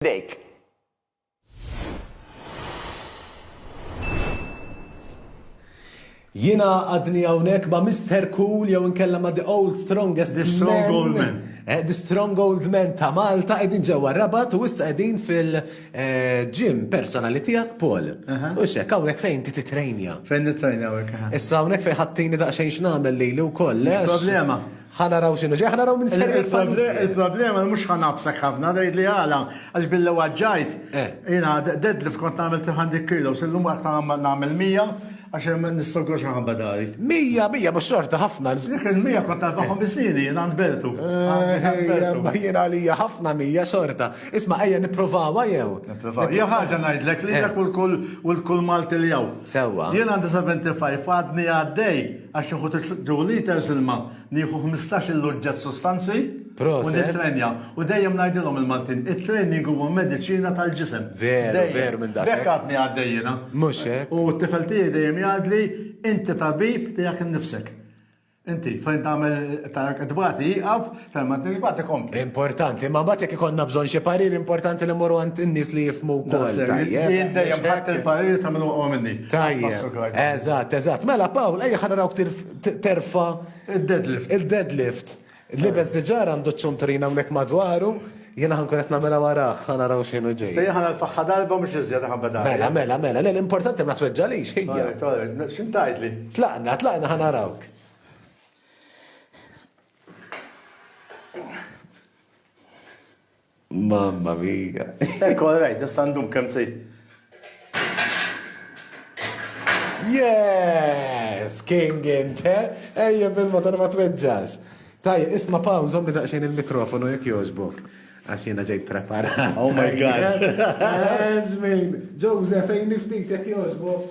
f'idejk. Jiena għadni hawnhekk ma' Mister Cool jew inkella ma' The Old Strongest The Strong Old Man. Eh, the Strong Old Man ta' Malta qegħdin ġewwa Rabat u issa qegħdin fil-ġim eh, personali tiegħek Paul. U xek hawnhekk fejn ti titrejnja. Fejn nitrejnja hawnhekk. Issa hawnhekk fejn ħattini daqsxejn x'nagħmel lili wkoll. Problema. Ħa naraw x'inhu ġej, ħa naraw min ser jaqbad iżjed. Il-problema li mhux ħa ngħabbsek ħafna, tgħidli għala, għax billi waġġajt, jiena deadlift kont nagħmel 300 kilos, illum qatt ma nagħmel 100 għax nistogor xi nħabba dari. 100, 100 mhux xorta ħafna. Dik il-100 kont narbaħhom bis-sniedi jien għand Bertu. Imma jien għalija ħafna 100 xorta. Isma' ejja nipprovawha jew? Nipprovawha. Hija ħaġa ngħidlek lilek u lil kull Malti li hawn. Sewwa. Jien għandi 75 għadni għaddej. Għax nieħu two litres ilma, nieħu ħmistax il oġġett sustanzi u nittrenja. U dejjem ngħidilhom il-Maltin, it-training huwa mediċina tal-ġisem. Veru, veru minn daqshekk. Hekk għadni għaddej jiena. Mhux hekk. U t-tifel tiegħi dejjem jgħidli, inti tabib tiegħek innifsek. Inti fejn tagħmel tagħmel tbati jieqaf, Telma trid tbagħti kompli. Importanti, ma mbagħad jekk ikollna bżonn xi parir importanti li mmorru għand in-nies li jifhmu wkoll. Jien dejjem ħadd il-parir ta' min huwa minni. Tajjeb. Eżatt, eżatt. Mela Pawl, ejja ħa narawk terfa' il-deadlift. Il-deadlift. Libes diġà għandu ċ-ċunturina hawnhekk madwaru, jiena ħankun qed nagħmilha warah, ħa naraw x'inhu ġej. Se jieħa l-faħħa darba mhux iżjed ħabba Mela, mela, mela, le l-importanti ma tweġġalix ħija. X'intajtli? Tlaqna, tlaqna ħa narawk. Mamma mia. Ekku, għarajt, jessandum kem t Yes! King inte! Ejja bil-motor ma tweġġax. Taj, isma paw, zommi daqxin il-mikrofonu jek joġbok. Għax jena ġejt preparat. Oh my god. Joseph, ejn niftit jek joġbok.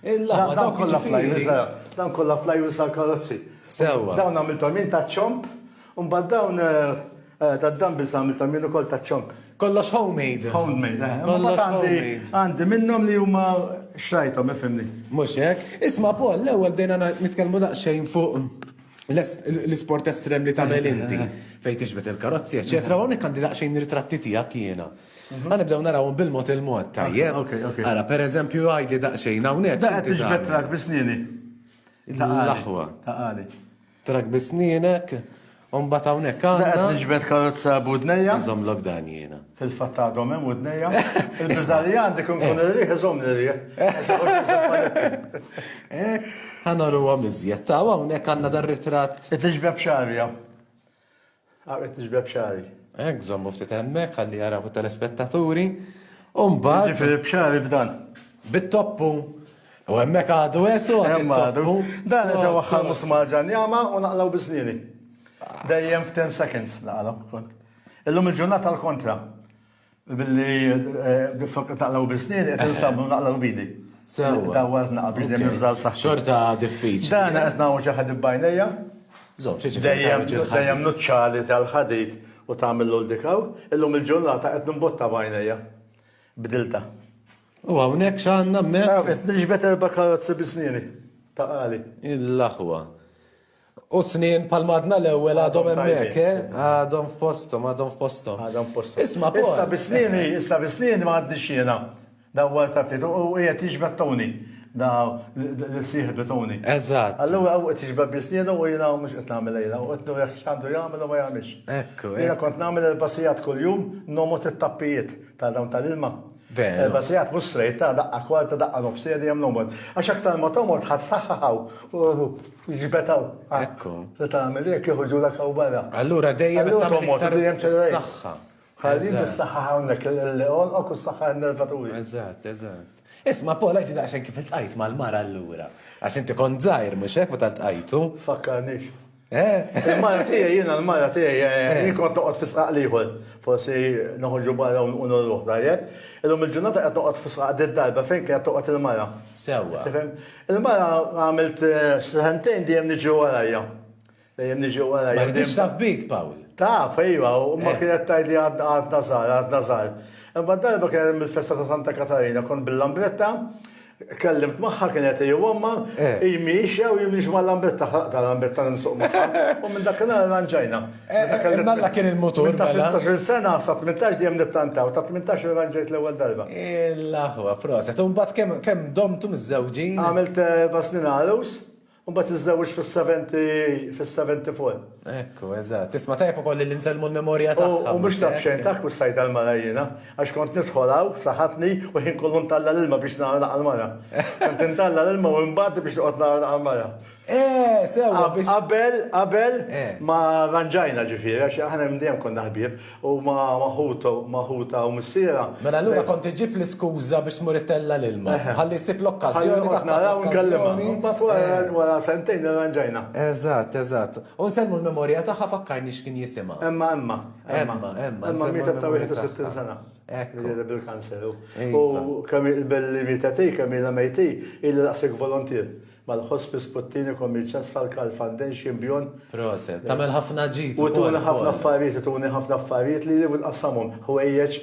Il-laħwa dawk kollha flajwis, dawn kollha flajwis għall-karozzi. Sewwa. Dawn għamilthom jien ta' ċomp, u mbagħad dawn tad-dumbbells għamilthom jien ukoll ta' ċomp. Kollox homemade. Homemade, eh. Kollox homemade. Għandi minnhom li huma xrajthom, ifhimni. Mhux hekk. Isma' Paul, l-ewwel bdejna nitkellmu daqsxejn fuq l-isport estrem li tagħmel inti fejn tixbet il-karozzi, eċċetera, hawnhekk għandi daqsxejn ritratti tiegħek jiena. Għan nibdew narawhom bil-mod il-mod, tajjeb? Ok, ok. Ara, per eżempju, għajdi daqsxejn hawnhekk. Daqqa x'inti tixbet tagħmel? trak bisnieni. L-aħwa. Taqali. Trak bisnienek, u mbagħad hawnhekk Daqqa għandna. nixbet karozza budnejja. Nżomm lok dan jiena. Fil-fatt għadhom hemm udnejja. Il-biża li għandi kun kun ir-riħ iżomm ir-riħ. Eh, Ħanoru għom iżjed. Ta' hawnhekk għandna dar ritratt Qed nixbeb xarja. Għaqbet nixbeb xagħri. Hekk żommu ftit hemmhekk ħalli jaraw it-telespettaturi. U mbagħad. Jiġifieri b'xagħri b'dan. Bit-toppu. U hemmhekk għadu għesu għadu. Għadu. Dan qed waħħal musmar ġanjama u naqlaw biżnieni. Dejjem f'ten seconds naqalhom kont. Illum il-ġurnata l-kontra. Billi d-fokka taqlaw bisnin, qed insabnu naqlaw bidi. Sewa. Dawwa qed naqbid li nibżal saħħa. Xorta diffiċli. Dan qed nagħmlu xi ħadid bajnejja. Żomm, xi Dejjem nuċċali tal-ħadid u tagħmillu l-dikaw, illum il-ġurnata qed nimbotta bajnejja. Bdilta. U hawnhekk x'għandna hemmhekk? Qed niġbed erba' karozzi bisnieni ta' qali. Il-aħwa. U snien bħal madna l-ewwel għadhom hemmhekk, eh? Għadhom f'posthom, għadhom f'posthom. Għadhom f'posthom. Isma' Paul. Issa bi snieni, issa bi snieni ma għaddix jiena. Dawwar ta' Tito u qiegħed jiġbed Tony. Da li sieħbi Tony. Eżatt. Allura u qed jiġbed bi snienu u jiena mhux qed nagħmel lejla u qed nurih x'għandu jagħmel u ma jagħmilx. Ekku. Jiena kont nagħmel il-basijat kuljum nomgħod it-tappijiet ta' dawn tal-ilma. Veru. Erba' sigħat mhux straight, ta' daqqa kwarta, daqqa nofsija dejjem l-għomor. Għax aktar ma tomgħod ħa ssaħħaħ hawn u ġbed hawn. Ekku. Se tagħmel hekk iħuġulek hawn barra. Allura dejjem qed tagħmel iktar is-saħħa. Ħalli inti ssaħħaħ hawnhekk il-għonqok u ssaħħaħ in-nervaturi. Eżatt, eżatt. Isma' Paul għax daqsxejn kif iltqajt mal-mara allura. Għax inti kont żgħir mhux hekk meta ltqajtu? Fakkarnix. Il-mara tiegħi, jiena l-mara tiegħi, jien kont noqgħod fi sqaq l-ieħor. Forsi noħorġu barra u nurruh, tajjeb? Illum il-ġurnata qed noqgħod fi sqaq d-darba fejn kienet toqgħod il-mara. Sewwa. Tifhem? Il-mara għamilt sentejn dejjem niġi warajha. Dejjem niġi warajha. Ma riditx taf bik, Pawl. Taf, ejwa, u imma kienet tgħidli għadna żgħar, għadna żgħar. Imma darba kien hemm il-festa ta' Santa Katarina, kont bil-lambretta, Kellimt magħha kien qed jgħommha, eh. hi miexja u jien mhix mal-lambetta, ħaqda l-lambetta nsuq magħha. U minn dak il-għal ranġajna. Eh, eh, Malla kien il-mutur. Ta' 16 mela. sena sa 18 dejjem nittantaw, ta' 18 ranġajt l-ewwel darba. Il-aħwa, proset. U mbagħad kemm domtu miż-żewġin? Għamilt basnin għalus. U mbagħad tiżżewġ fis-70 fis-70 full. Ekku, eżatt. Tisma' tajjeb ukoll li nsellmu l-memorja tagħha. U mhux taf xejn taf kussajt tal-mara jiena, għax kont nidħol hawn f'saħħatni u ħin kollu ntalla' l-ilma biex nara naqal mara. Kont intalla' l-ilma u nbati biex noqgħod nara naqal mara. Eh, sewwa biex. Qabel, qabel ma ranġajna ġifieri, għax aħna minn dejjem konna ħbieb. Huma ma' ħutha u missierha. Mela allura kont iġġib l-iskuża biex tmur ittella' l-ilma. Ħalli jsib l-okkażjoni taħtha fl-okkażjoni. Ħalli noqgħod naraw u nkellimha. Imbagħad wara sentejn irranġajna. Eżatt, eżatt. U nsellmu l-memorja tagħha fakkarni x'kien jisimha. Emma, Emma. Emma, Emma. Emma mietet ta' 61 sena. Hekk. Mietet bil-kanser. U kemm hi l-belli mietet hi, kemm ilha mejt hi, ilha daqshekk voluntier. Mal ħospi Sputtini Commercials Falkal Fundation bjon. Proset. Tagħmel ħafna ġid ukoll. U tuni ħafna affarijiet, tuni ħafna affarijiet li jien nqassamhom. Ħwejjeġ,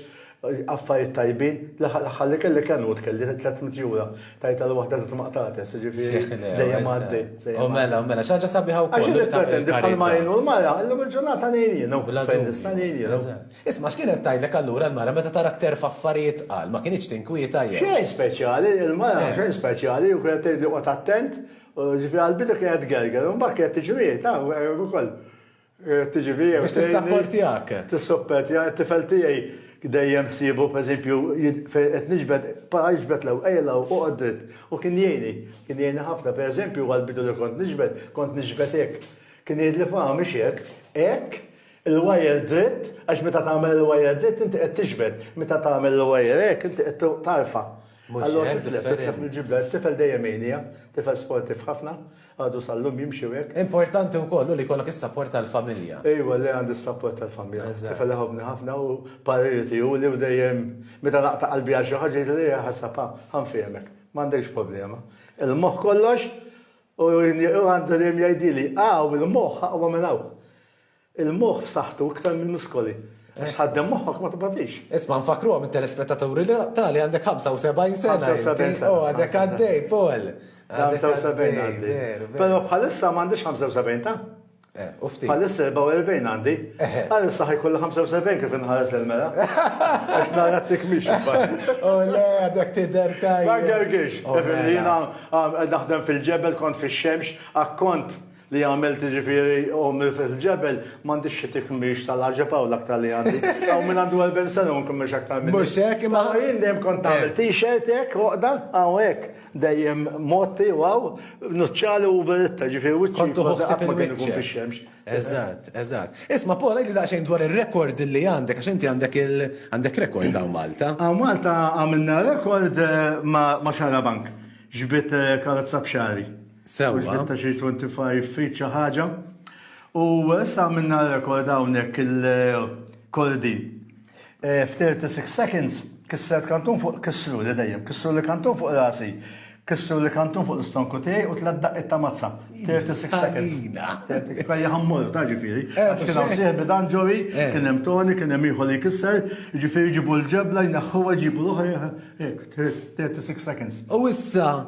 affarijiet tajbin. L-aħħar l-aħħar li kelli kien hu tkelli 300 jura. Tajt għal waħda żitt ma qtagħtex, jiġifieri dejjem għaddej. U mela, u mela, xi ħaġa sabiħa wkoll. Għax jien nippretendi bħalma jgħinu l-mara, illum il-ġurnata ngħin jienu. Bla dubju. Fejn nista' ngħin jienu. Isma' x'kien qed tgħidlek allura l-mara meta tarak terfa' affarijiet tqal, ma kinitx tinkwieta jew? Xejn speċjali, il-mara xejn speċjali u kienet tgħidli qgħod attent, ġifieri għall-bidu kienet tgerger u mbagħad kienet tiġri hi, taf hekk ukoll. Kienet tiġi fija u tgħinni. Biex tissapportjak. Tissuppertjani, it-tifel tiegħi dejjem ssiebu pereżempju fejn qed niġbed, para iġbed l-ewwel, ejja 'l hawn, oqgħod dritt u kien jgħinni, kien jgħinni ħafna. Pereżempju għall-bidu li kont niġbed, kont niġbed hekk, kien jgħidli, Faham mhix hekk, hekk, il-wire dritt għax meta tagħmel il-wire dritt inti qed tixbet, meta tagħmel il-wire hekk inti qed tarfa'. Allura titlef, titlef mill-ġibda, it-tifel dejjem jgħinija, tifel sportiv ħafna, għadu sal-lum jimxi u hekk. Importanti wkoll hu li jkollok is-sapport tal-familja. Ejwa le għandi s-sapport tal-familja. Tifel iħobbni ħafna u pariri tiegħu li hu dejjem meta naqta' qalbi għal xi ħaġa jgħidli le ħassab ha, ha nfehmek, m'għandekx problema. Il-moħħ kollox u għandu dejjem jgħidili, ha u l-moħħ aqwa minn hawn. Il-moħħ f'saħħtu iktar mill-muskoli. Għax tħaddem moħħok ma tbatix. Isma' nfakkruhom it-telespettaturi li tali għandek 75 sena. 75 sena. Oh, għadek għaddej, Paul. 75 għaddej. Però bħalissa m'għandix 75 ta'? Eh, u ftit. Bħalissa 44 għandi. Eh, eh. Bħalissa ħajkolli 75 kif inħares l-mela. Għax nara t-tikmix. U oh, le, għadek t-der tajja. Għagħarġiex. Oh, mela. Jina naħdem fil-ġebel, kont fil-xemx, akkont. li għamilt ġifiri ommi fil-ġebel, mandi xie tikmix tal-ħagġeb għaw l-aktar li għandi. Għaw minn għandu għal bensana un kummex aktar minn. Mux ek, ma għaw jindem konta eh. t-shirt ek, uqda, għaw ek, dejjem motti, għaw, nuċċali u beritta ġifiri u ċkontu għuħsib il-wicċ. Eżat, eżat. Isma, Paul, għajli daqxajn dwar il-rekord li għandek, għax inti għandek il-għandek rekord għaw Malta. Għaw Malta għamilna rekord eh, ma xara bank, ġbit eh, karozza bxari. Mhux sewwa. bit-ta' xi 25 feet xi ħaġa. U issa għamilna rekord hawnhekk il-Cory Dean. F'36 seconds kissret kantun fuq, kissruli dejjem, kissruli kantun fuq rasi, kissruli kantun fuq l-istonku tiegħi u tliet daqqiet ta' mazza. 36 seconds. Għalina. Kien jaħ mmorru, taf ġifieri. Eh, Għax kien hawn mhux hekk. sieħbi dan Joey, Eh. kien hemm Tony, kien hemm ieħor li jkisser, jiġifieri jġibu l-ġebla, jneħħuha, jġibu l-oħra, hekk, 36 seconds. U issa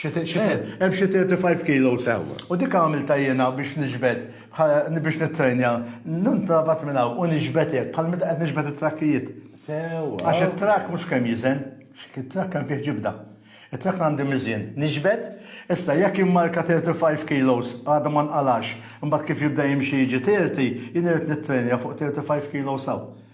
Hemm xi 35 kilos hawn. U dik għamiltha jiena biex niġbed, biex nittrejnja, nintrabat minn hawn u niġbed hekk, bħal meta qed niġbed it-trakkijiet. Sewwa. Għax it-trakk mhux kemm jiżen, it-trakk hemm fih ġibda. It-trakk għandi miżien, niġbed, issa jekk immarka 35 kilos għadu ma nqalgħax, imbagħad kif jibda jimxi jiġi 30, jien irrid nittrejnja fuq 35 kilos hawn.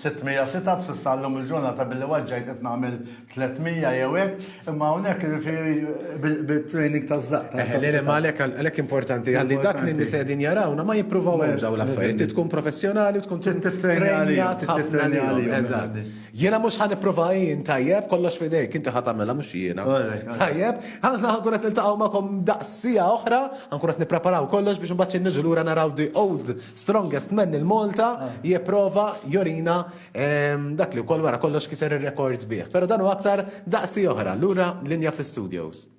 600 sit ups issa llum il-ġurnata billi waġġajt qed nagħmel 300 jew hekk, imma hawnhekk jiġifieri bit-training taż-żaqq. Eħe, le le ma għalhekk għalhekk importanti ħalli dak li n-nisa qegħdin jarawna ma jippruvawhomx dawn l-affarijiet. Trid tkun professjonali u tkun tittrejnjat ħafna għalihom. Eżatt. Jiena mhux ħa nipprova jien, tajjeb, kollox f'idejk, inti ħa tagħmilha mhux jiena. Tajjeb, aħna ħa nkun qed niltaqgħu magħkom daqs siegħa oħra, ħa nkun qed nippreparaw kollox biex imbagħad xi niġu lura naraw the old Strongest man il Malta jipprova jorina dak li wkoll wara kollox kiser ir-rekords bih. Però dan u aktar daqsi oħra lura linja fl-studios.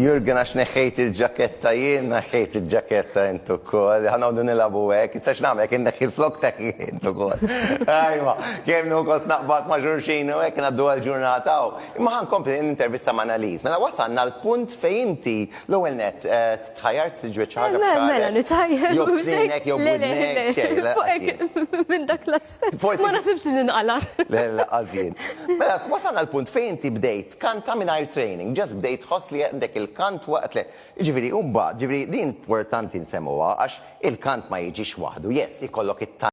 Jurgen għax neħħejt il-ġaketta jien, neħħejt il-ġaketta intu kol, ħanawdu nilabu għek, issa xnam għek neħħi l-flok teħħi intu kol. Ajma, kem nu kos naqbat maġurxin u għek naddu għal-ġurnata u. Imma ħa nkompli nintervista ma' Annalise. Mela wasalna għal punt fejn inti l-ewwel nett tħajjart tiġbed xi ħaġa f'xagħrek. Mela, mela nitħajjar. Jew f'sinek jew f'widnek, xejn, le. Fuq hekk minn dak l-aspett. Forsi. Ma naħsibx li nqala'. Le, le, laqqas jien. Mela, wasalna għal punt fejn inti bdejt tkanta mingħajr training, just bdejt tħoss li għandek il-kant waqt li, jiġifieri u mbagħad, jiġifieri din importanti nsemmugħa għax il-kant ma jiġix waħdu, yes, ikollok it-talent,